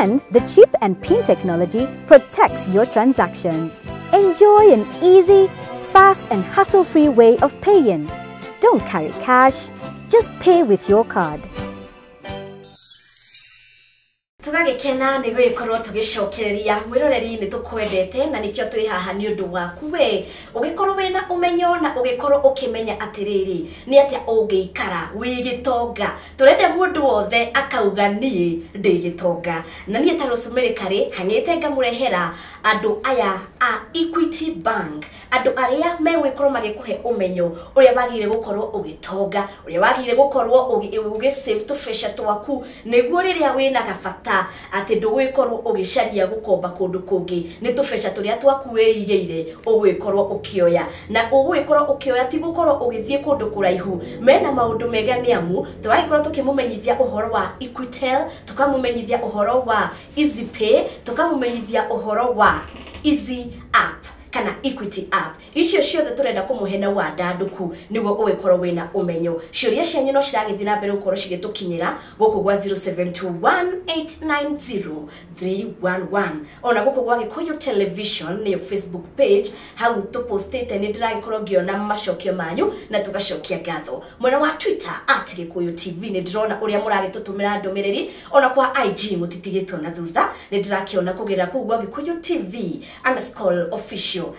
And the chip and pin technology protects your transactions. Enjoy an easy, fast and hassle-free way of paying. Don't carry cash, just pay with your card. tũgagĩkena nĩ gũgĩkorwo tũgĩcokereria mwĩroreri nĩ tũkwendete na nĩkĩo twĩ haha nĩ ũndũ waku we ũgĩkorwo wĩ na ũmenyo na ũgĩkorwo ũkĩmenya atĩrĩrĩ nĩ atĩa ũngĩikara wĩ gĩtonga tũrende mũndũ wothe akauga niĩ ndĩ gĩtonga na niĩ ta rũcumĩrĩ karĩ hang'ĩte ngamũrehera andũ aya a Equity Bank andũ arĩa megũgĩkorwo magĩkũhe ũmenyo ũrĩa wagĩrĩire gũkorwo ũgĩtonga ũrĩa wagĩrĩire gũkorwo ũgĩ save tũbeca twaku nĩguo rĩrĩa wĩna gabata Atĩ ndũgũĩkorwo ũgĩcaria gũkomba kũndũ kũngĩ, nĩ tũbeca tũrĩa twaku wĩigĩire ũgũĩkorwo ũkĩoya. Na ũgũĩkorwo ũkĩoya ti gũkorwo ũgĩthiĩ kũndũ kũraihu. Mena maũndũ mega nĩ amu, tũragĩkorwo tũkĩmũmenyithia ũhoro wa Equitel, tũkamũmenyithia ũhoro wa Easypay, tũkamũmenyithia ũhoro wa Easy App kana Equity App. Icio ciothe tũrenda kũmũhe na wandandũku nĩguo ũgĩkorwo wĩna ũmenyo. Ciũria cianyu no ciragĩthiĩ na mbere gũkorwo cigĩtũkinyĩra gũkũ gwa 0721890311. Ona gũkũ gwa Gĩkũyũ Television nĩyo Facebook page, hau tũ postĩte nĩ ndĩragĩkorwo ngĩona macokio manyu na tũgacokia ngatho. Mwena wa Twitter at Gĩkũyũ TV nĩ ndĩrona ũrĩa mũragĩtũtũmĩra ndũmĩrĩri, ona kwa IG mũtitigĩtwo na thutha, nĩ ndĩrakĩona kũgerera kũu gwa Gĩkũyũ TV underscore official.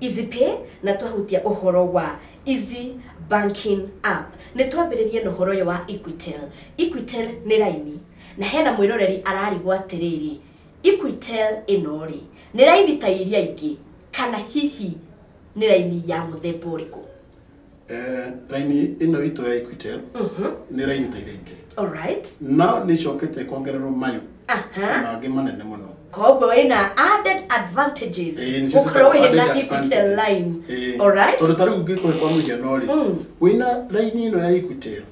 Easy Pay na twahutia ũhoro wa Easy Banking App. Nĩ twambĩrĩrie na ũhoro ũyũ wa Equitel. Equitel nĩ raini, na hena mwĩroreri ararigwo atĩrĩrĩ, Equitel ĩno-rĩ, nĩ raini ta iria ingĩ kana hihi nĩ raini ya mũthemba ũrĩkũ? Eh, raini ĩno itũ ya equitel nĩ raini ta iria ingĩ Alright. no nĩ icokete kuongererwo mayũ Aha. na angĩ manene mũno koguo wĩna added advantages Eh, nĩcio gũkorwo twĩtaga wĩna added equitel advantages. line Eh, alright tondũ ta rĩu ngĩkũhe kwa mũhiano rĩ Mm. wĩna raini ĩno ya equitel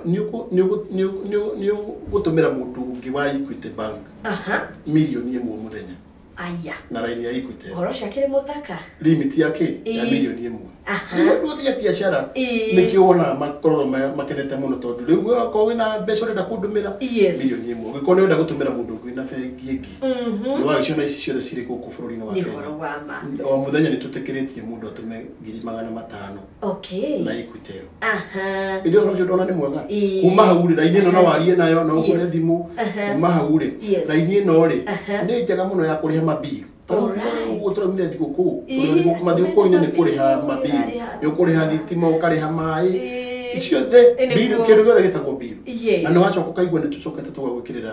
nĩ ũkũ- nĩ ũkũ- nĩ ũkũ- nĩ ũkũ- nĩ ũgũtũmĩra mũndũ ũngĩ wa equity bank aha mirioni ĩmwe mũthenya Aya. na raini ya Equitel. Horo cio akĩrĩ mũthaka. Limit ya kĩ? Ya Ĩĩ. milioni ĩmwe. Aha. Rĩu andũ othe a biacara Ĩĩ. nĩkĩo wonaga makoragwo ma- makenete mũno tondũ rĩu we okorwo wĩna mbeca ũrenda kũndũmĩra Yes. milioni ĩmwe ũngĩkorwo nĩ ũrenda gũtũmĩra mũndũ ũngĩ wĩna bengi ĩngĩ Mhm. nĩ wagĩciona ici ciothe cirĩ gũkũ bũrũri-inĩ wa Nĩ Kenya ũhoro wa ma. o mũthenya nĩ tũtĩkĩrĩtie mũndũ atũme ngiri magana matano okay na Equitel aha iria horo cio ndona nĩ mwega Ĩĩ. kuma hau rĩ raini ĩno no warie nayo no ũhũre Yes. thimũ Aha. kuma hau rĩ Yes. raini ĩno rĩ Aha. nĩ njega mũno ya kũrĩha mabiru Alright. ũguo tũraumire thigũkũ Ĩĩ, mathigũkũ-inĩ nĩ kũrĩha mabiru, mabiru ũrarĩha nĩ ũkũrĩha thukuru. thitima ũkarĩha maĩ Ĩĩ. ciothe Ĩĩ, nĩguo. biru kĩndũ gĩothe gĩtagwo biru Yes. na nĩ wacoka ũkaigua nĩ tũcokete tũgagwĩkĩrĩra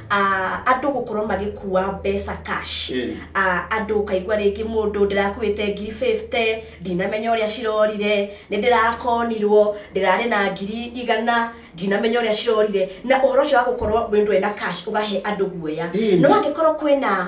Andũ gũkorwo magĩkua mbeca cash. Andũ ũkaigua rĩngĩ mũndũ ndĩrakuĩte ngiri fifty, ndinamenya ũrĩa cirorire, nĩ ndĩrakonirwo, ndĩrarĩ na ngiri igana, ndinamenya ũrĩa cirorire. Na ũhoro ũcio wa gũkorwo mũndũ ena cash ũkahe andũ guoya. No angĩkorwo kwĩna...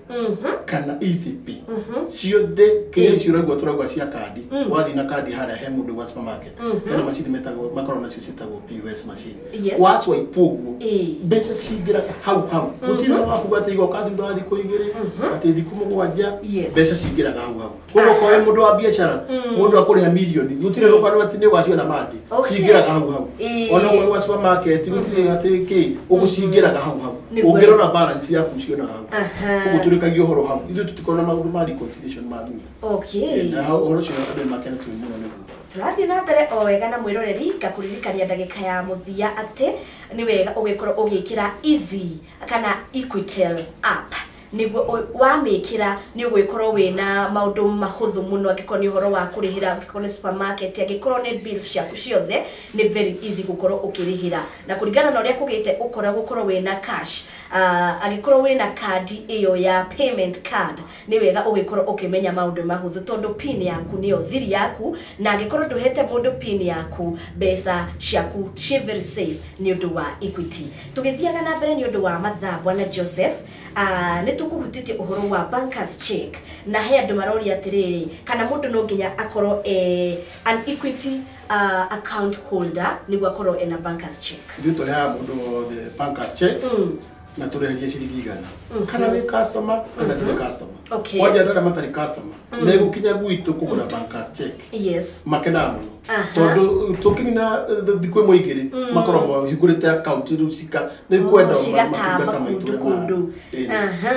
Mhm. kana ECP Mhm. ciothe kĩrĩa ciũragwo tũragwa cia kandi Mm. wathiĩ na kandi harĩa he mũndũ wa supermarket Mhm. hena macini metagwo makoragwo nacio ciĩtagwo POS machine Yes. waswipe ũguo Ĩĩ. mbeca cingĩraga hau hau Mhm. gũtirĩ na wakuga atĩ igoka thutha wa thikũ igĩrĩ Mhm. atĩ thikũ mũgwanja Yes. mbeca cingĩraga hau hau koguo koe mũndũ wa biacara mũndũ akũrĩha mirioni gũtirĩ rũgano atĩ nĩ ũgaciona mangĩ Okay. cingĩraga hau hau Ĩĩ. ona ũmwe wa supermarket gũtirĩ atĩ kĩ ũgũcingĩraga hau hau Nĩ kweli. ũngĩrora balance yaku cionaga hau Aha. koguo tũrĩkagia ũhoro hau ithuĩ tũtikona maũndũ ma reconciliation ma thutha okay na ũhoro ũcio andũ makena tũĩ mũno nĩguo tũrathiĩ na mbere o wega na mwĩroreri ngakũririkania ndagĩka ya mũthia atĩ nĩ wega ũgĩkorwo ũgĩkĩra easy kana equitel app nĩguo wamĩkĩra nĩ ũgũgĩkorwo wĩna maũndũ mahũthũ mũno angĩkorwo nĩ ũhoro wa kũrĩhĩra angĩkorwo nĩ supermarket angĩkorwo nĩ bills ciaku ciothe nĩ very easy gũkorwo ũkĩrĩhĩra na kũringana na ũrĩa kũgĩte ũkora gũkorwo wĩna cash uh, angĩkorwo wĩna kandi ĩyo ya payment card nĩ wega ũgĩkorwo ũkĩmenya maũndũ mahũthũ tondũ pin yaku nĩyo thiri yaku na angĩkorwo ndũhete mũndũ pin yaku mbeca ciaku ciĩ very safe nĩ ũndũ wa equity tũgĩthiaga na mbere nĩ ũndũ wa mathaa bwana joseph Ah, nĩ tũkũhutĩtie ũhoro wa bankers check na he andũ maroria atĩrĩrĩ kana mũndũ no nginya akorwo e an equity ah, account holder nĩguo akorwo ena bankers check ithuĩ tũheaga mũndũ wothe banka check Mm. na tũrĩhagia ciringi igana kana wĩ customer kana ndũrĩ customer Okay. kwanja andũ arĩa matarĩ customer Mm. nä gå kinya gwitå kå gå ra yes makenaga må no Aha. tondå tå kinina thikå ä mwe igä rä Mm. makoragwo mahingå rä te akaunti rä u cika nä Oh, kwenda cigatamba kũndũ kũndũ Aha.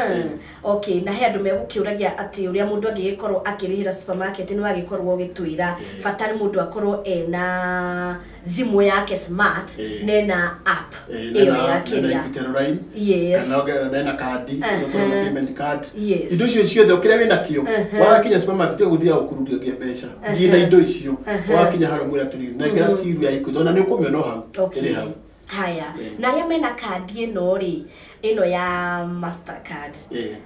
okay na he andå megũkĩũragia atĩ ũrĩa mũndå angĩgĩkorwo akĩrĩhĩra supermarket nĩ wagĩkorwo ũgĩtwĩra Ĩĩ. bata nĩ mũndũ akorwo ena thimũ yake smart Eh. nena app Eh, ĩyo nena- yake nena ya Equitel Line, yes kana ongerera nena kandi Eh, icio tũrona eh. payment card Yes. indo icio ciothe ũkĩrĩa wĩna kĩo Eh, wakinya supermarket gũthiaga gũkururio ngia mbeca thiĩ na indo icio Eh. wakinya harĩa mwĩra atĩrĩrĩ nengera tiru ya ikuti ona nĩ ũkũmĩona o hau Okay. ĩrĩ hau haya Eh. na arĩa mena kandi ĩno rĩ ĩno ya mastercard Eh.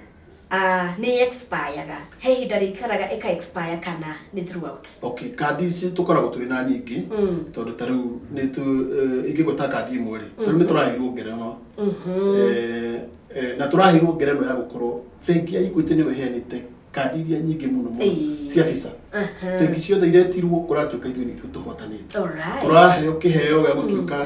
Ah, nĩ expire-ga. He ihinda rĩikaraga ĩka expire kana nĩ throughout. okay kandi ici tũkoragwo tũrĩ na nyingĩ Mm. tondũ ta rĩu nĩ tu eh, ingĩgwa ta kandi ĩmwe rĩ ta rĩu nĩ tũraheirwo ngerenwa Eh, eh, na tũraheirwo ngerenwa ya gũkorwo bengi ya Equity nĩwe ĩheanĩte kandi iria nyingĩ mũno mũno Ĩĩ. cia visa Aha. bengi ciothe iretirwo ũratuĩka ithuĩ nĩithuĩ tũhotanĩte Alright. tũraheo kĩheo gĩa gũtuĩka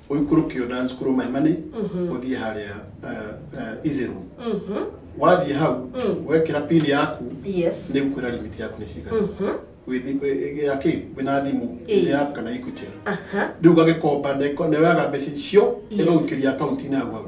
ũikũrũke dance kũrũ maimani ũthiĩ harĩa izero wathiĩ hau wekĩra pin yaku yes nĩ gukwĩra limit yaku nĩ cigana wĩthi- ya kĩ wĩna thimũ Ĩĩ. ĩyo yaku kana equity aha rĩu gagĩkomba nĩ- nĩwaga mbeca icio Yes. ĩgagũikĩria akaunti-inĩ hau hau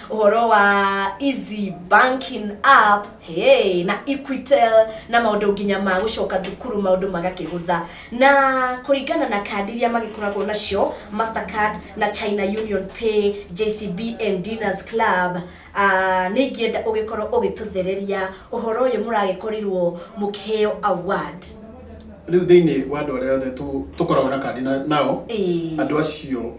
ũhoro wa easy banking app hey, na equitel na maũndũ nginya ma gũcoka thukuru maũndũ magakĩhũtha na kũringana na kandi iria magĩkoragwo nacio mastercard na china union pay jcb and dinners club uh, nĩ ingĩenda ũgĩkorwo ũgĩtũthereria ũhoro ũyũ mũragĩkorirwo mũkĩheo award rĩu thĩinĩ wa andũ arĩa othe tũ- tũkoragwo na kandi na- nao Ĩĩ. andũ acio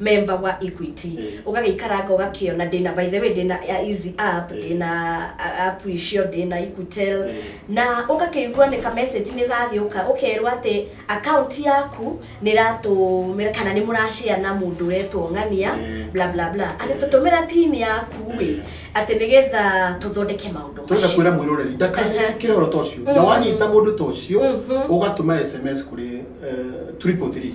member wa equity Mm. ũgagĩikaranga ũgakĩona ndĩna by the way ndĩna ya easy app Mm. ndĩna a- app icio ndĩna equitel Mm. na ũgakĩigua nĩ kamessage nĩ gagĩũka ũkerwo atĩ account yaku nĩ ratũmĩra kana nĩ mũrashare na mũndũ wetwo ng'ania Mm. bla bla bla atĩ tũtũmĩra pin yaku ĩ atĩ nĩgetha tũthondeke maũndũ twenda macio kwĩra mwĩroreri Aha. ndakanyitĩkĩre ũhoro ta ũcio na Mhm. wanyita mũndũ ta ũcio Mhm. ũgatũma sms kũrĩ eh, triple three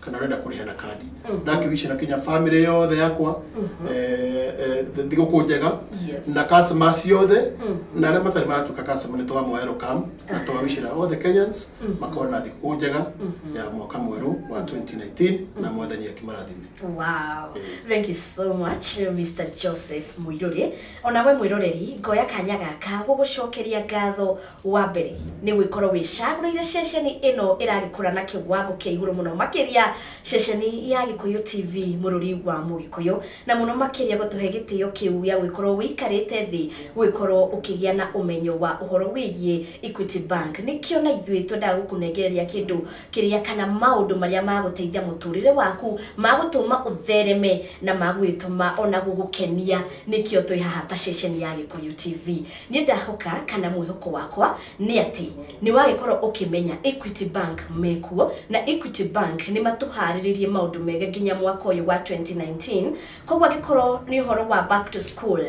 kana arenda kũrĩha na kandi Mhm. na ngĩwicira kinya family yothe yakwa Mhm. eh, eh, thigũkũ njega Yes. na customer ciothe Mhm. na arĩa matarĩ maratuĩka customer nĩ twamoa welcome na twawicira othe kenyans Mhm. makona thigũkũ njega Mhm. ya mwaka mwerũ wa 2019 na mwathani akimarathime Wow. Thank you so much Mr. Joseph Muiruri. Ona we mwiroreri ngoya kanya gaka gũgũcokeria ngatho Wa mbere, nĩ gwĩkorwo wĩcagũrĩire ceceni ĩno ĩragĩkũra na kĩwango kĩa igũrũ mũno makĩria, ceceni ya Gĩkũyũ TV bũrũri wa Mũgĩkũyũ, na mũno makĩria gũtũhe gĩtĩo kĩu gĩa gũgĩkorwo ũikarĩte thĩ gũgĩkorwo ũkĩgĩa na ũmenyo wa ũhoro wĩgiĩ Equity Bank. Nĩkĩo na ithuĩ twendaga gũkũnengereria kĩndũ kĩrĩa kana maũndũ marĩa magũteithia mũtũrĩre waku, magũtũma ũthereme na magũgĩtũma ona gũgũkenia, nĩkĩo twĩ haha ta ceceni ya Gĩkũyũ TV. Nĩ ndahoka kana mwĩhoko wakwa nĩ atĩ nĩ wagĩkorwo ũkĩmenya Equity Bank mekuo na Equity Bank nĩ matũharĩrĩirie maũndũ mega nginya mwaka ũyũ wa 2019. Koguo angĩkorwo nĩ ũhoro wa back to school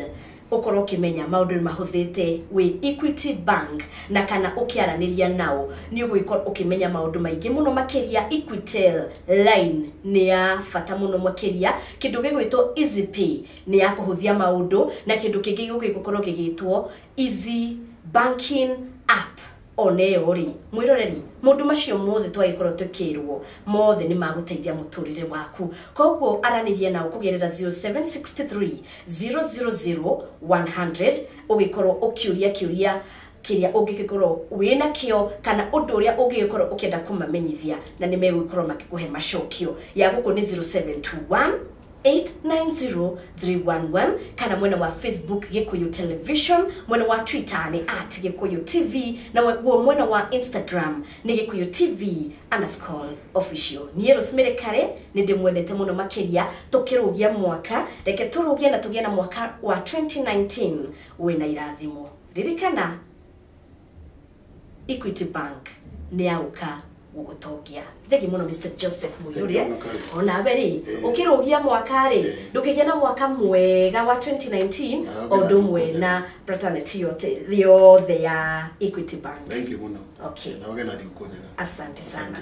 ũkorwo ũkĩmenya maũndũ nĩ mahũthĩte wĩ Equity Bank na kana ũkĩaranĩria nao nĩ ũgũgĩkorwo ũkĩmenya maũndũ maingĩ mũno makĩria Equitel line nĩ ya bata mũno makĩria kĩndũ gĩgwĩtwo Easy Pay nĩ ya kũhũthia maũndũ na kĩndũ kĩngĩ gĩũkĩte gũkorwo gĩgĩtwo easy banking app oneyo rĩ mwĩroreri mũndũ macio mothe twagĩkorwo tũkĩrwo mothe nĩ magũteithia mũtũrĩre waku koguo aranĩria nao kũgerera 0763 000 100 ũgĩkorwo ũkĩũria kĩũria kĩrĩa ũngĩgĩkorwo wĩ nakĩo kana ũndũ ũrĩa ũngĩgĩkorwo ũkĩenda kũmamenyithia na nĩ megũgĩkorwo makĩkũhe macokio. Ya gũkũ nĩ 0721 890311 kana mwena wa Facebook Gikuyu Television, mwena wa Twitter ni at Gikuyu TV na guo mwena wa Instagram ni Gikuyu TV underscore official. Niĩ Rosemary Kare nĩ ndĩmwendete mũno makĩria tũkĩrũgia mwaka, reke tũrũgie na tũgĩe na mwaka wa 2019 wĩna irathimo. Ririkana Equity Bank nĩ ya gũka gũgũtongia thegi mũno Mr Joseph Mũihũria Thank you mũno, Karen. onawe rĩ Eh. ũkĩrũgia mwaka rĩ Eh. ndũkĩgĩa na mwaka mwega wa 2019 Na o ũndũ ũmwe ũgĩna- na fraternity yote yothe ya Equity Bank thank you muno Okay. na ũgena thikũ njega asante sana Asante.